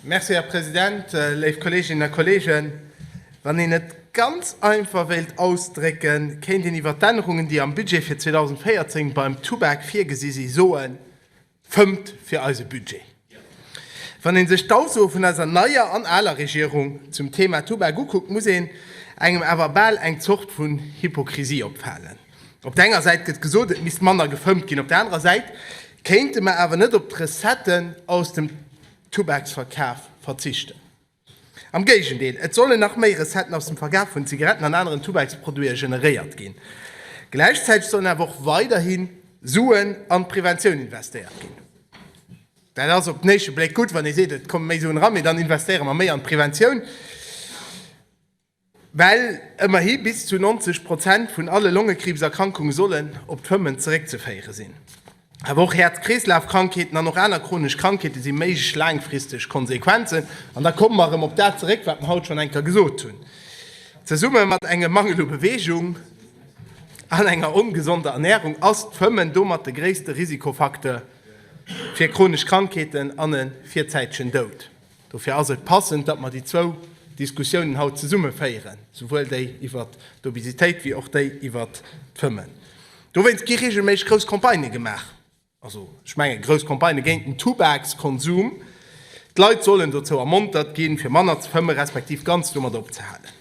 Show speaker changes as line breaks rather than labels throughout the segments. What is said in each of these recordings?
Merci, Här President. Léif Kolleeginnen a Kolleegen, wann een et ganz einfach wéilt ausdrécken, kéint een iwwer d'Ännerungen, déi am Budget fir 2014 beim Tubak virgesi si soen, Fëmmt fir eise Budget! Wann ee sech d'Aussoe vun eiser neier an aler Regierung zum Thema Tubak ukuckt, muss een engem awer bal eng Zort vun Hypokrisie opfalen. Op der enger Säit gëtt gesot, et misst manner gefëmmt ginn, op der anerer Säit kéinte mer awer net op d'Recetten aus dem Tubaksverkaf verzichten. Am Géigendeel, et sollen nach méi Recetten aus dem Verkaf vun Zigaretten an aneren Tubaksproduite generéiert ginn. Gläichzäiteg sollen awer och weiderhi Suen an d'Preventioun investéiert ginn. Dat ass op den éischte Bléck gutt, wann ee seet, et komme méi Suen eran, mee dann investéiere mer méi an d'Preventioun. Well ëmmerhi bis zu 90 Prozent vun alle Longekriibserkrankunge sollen op d'Fëmmen zeréckzeféiere sinn. Awer och Häerz-Kreeslafkrankheeten an och aner chronesch Krankheete si méiglech laangfristeg Konsequenzen. An da komme mer erëm op dat zeréck, wat mer haut schonn eng Kéier gesot hunn, Zesumme mat engem Mangel u Beweegung an enger ongesonder Ernärung ass d'Fëmmen domat de gréisste Risikofacteur fir chronesch Krankheeten an e virzäitegen Doud. Dofir ass et passend, datt mer déi zwou Diskussiounen haut zesumme féieren, souwuel déi iwwert d'Obesitéit wéi och déi iwwert d'Fëmmen. Dowéinst gi reegelméisseg grouss Campagnë gemaach, also ech mengen grouss Campagnë géint den Tubakskonsum. D'Leit sollen dozou ermontert ginn, fir manner ze fëmmen, respektiv ganz domat opzehalen.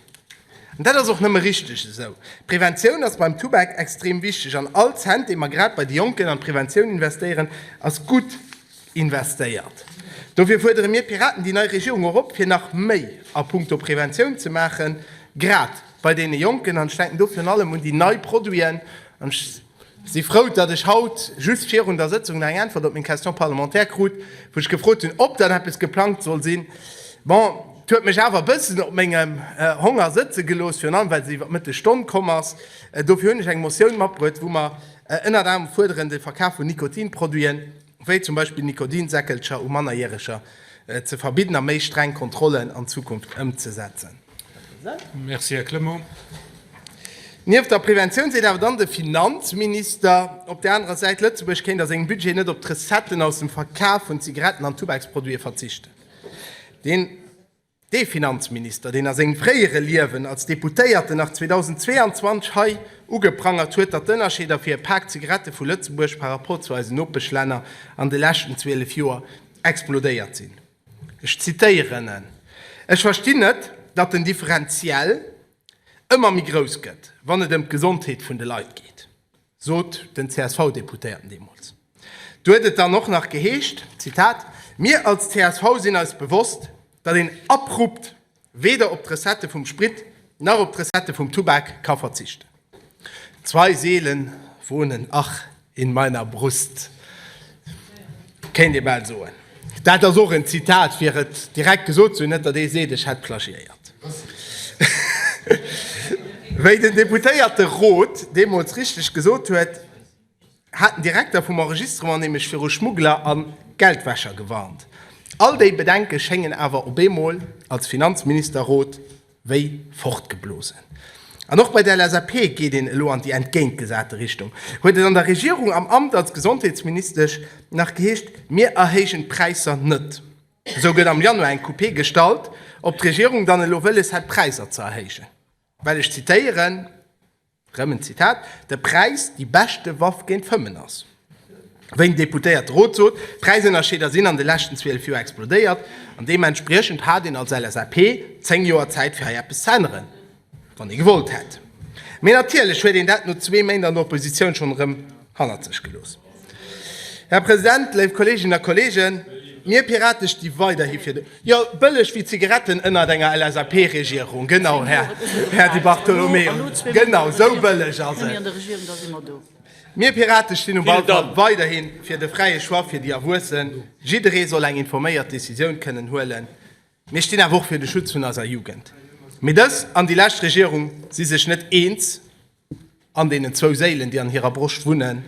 An dat ass och nëmme richteg esou. D'Preventioun ass beim Tubak extrem wichteg an all Cent, dee mer grad bei de Jonken an d'Preventioun investéieren, ass gutt. investéiert. Dofir fuerdere mir Piraten déi nei Regierung och op, fir nach méi a punkto Preventioun ze maachen, grad bei deene Jonken. An ech denken do virun allem un déi nei Produiten. An ech si frou, datt ech haut just virun der Sëtzung nach eng Äntwert op meng Question parlementaire krut, wou ech gefrot hunn, ob dann eppes geplangt soll sinn. Bon, et huet mech awer e bëssen op mengem Honger sëtze gelooss, virun allem well se iwwer d'Mëtteg Stonn komm ass. Dofir hunn ech eng Motioun matbruet, wou mer ënnert anerem fuerderen, de Verkaf vun Nikotinproduiten, wéi zum Beispill Nikotinsäckelcher u Mannerjäreger ze verbidden a méi streng Kontrollen an Zukunft ëmzesetzen. Merci, Här Clement. Nieft der Preventioun seet awer dann de Finanzminister op där anerer Säit, Lëtzebuerg kéint a sengem Budget net op d'Recetten aus dem Verkaf vun Zigaretten an Tubaksproduite verzichten. Deen. Dee Finanzminister, deen a sengem fréiere Liewen als Deputéierten nach 2022 hei ugeprangert huet, datt d'Ënnerscheeder fir e Pak Zigarette vu Lëtzebuerg par rapport zu eisen Nopeschlänner an de leschten 12 Joer explodéiert sinn, ech zitéieren en, Ech verstinn net, datt den Differentiel ëmmer méi grouss gëtt, wann et ëm d'Gesondheet vun de Leit geet. sot den CSV-Deputéierten deemools. Do huet et dann och nach geheescht, Zitat, Mir als csv sinn eis bewosst, datt een abrupt weder op d'Recettë vum Sprit nach op d'Recettë vum Tubak ka verzichten. Zwei Seelen wohnen, ach, in meiner Brust, Kéint ee bal soen. Dat ass och en Zitat, fir et direkt gesot ze hunn, net datt ee seet, ech hätt plagiéiert. Wéi den Deputéierte Roth deemools richteg gesot huet, hat den Direkter vum Enregistrement nämlech viru Schmuggler a Geldwäscher gewarnt. All déi Bedenke schéngen awer op eemol als Finanzminister Roth wéi fortgeblosen. An och bei der LSAP geet een elo an déi entgéintgesate Richtung, huet et an der Regierung am Amt als Gesondheetsministesch nach geheescht, Mir erhéijen d'Präisser net. Esou gëtt am Januar eng Coupé gestallt, ob d'Regierung dann elo wëlles hätt d'Präisser ze erhéijen, well, ech zitéieren, Rëm en Zitat, De Präis, déi beschte Waff géint d'Fëmmen ass. Wéi den Deputéierte Rot sot, d'Präisënnerscheeder sinn an de leschten 12 Joer explodéiert an deementspriechend hat een als LSAP 10 Joer Zäit fir hei eppes ze änneren, wann ee gewollt hätt. Mee natierlech huet een dat no zwee Méint an der Oppositioun schonn erëm hannert sech gelooss. Här President, léif Kolleeginnen a Kolleegen, mir Piraten sti weiderhi fir de. Jo, bëlleg wéi Zigaretten ënnert enger LSAP-Regierung. Genau, Här, Här Di Bartolomeo, genau esou bëlleg ass et. Mir Piraten stinn um Ballkopp weiderhi fir de fräie Choix fir déi Erwuessen. Jidderee soll eng informéiert Decisioun kënnen huelen. Mir stinn awer och fir de Schutz vun eiser Jugend. Mee dës an déi lescht Regierung si sech net eens. an deenen zwou Séilen, déi an hirer Broscht wunnen,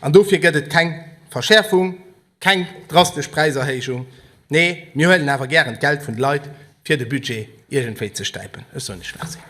an dofir gëtt et keng Verschäerfung, keng drastesch Präiserhéijung. Nee, mir huelen awer gären d'Geld vun de Leit, fir de Budget iergendwéi ze stäipen. Ech soen iech Merci.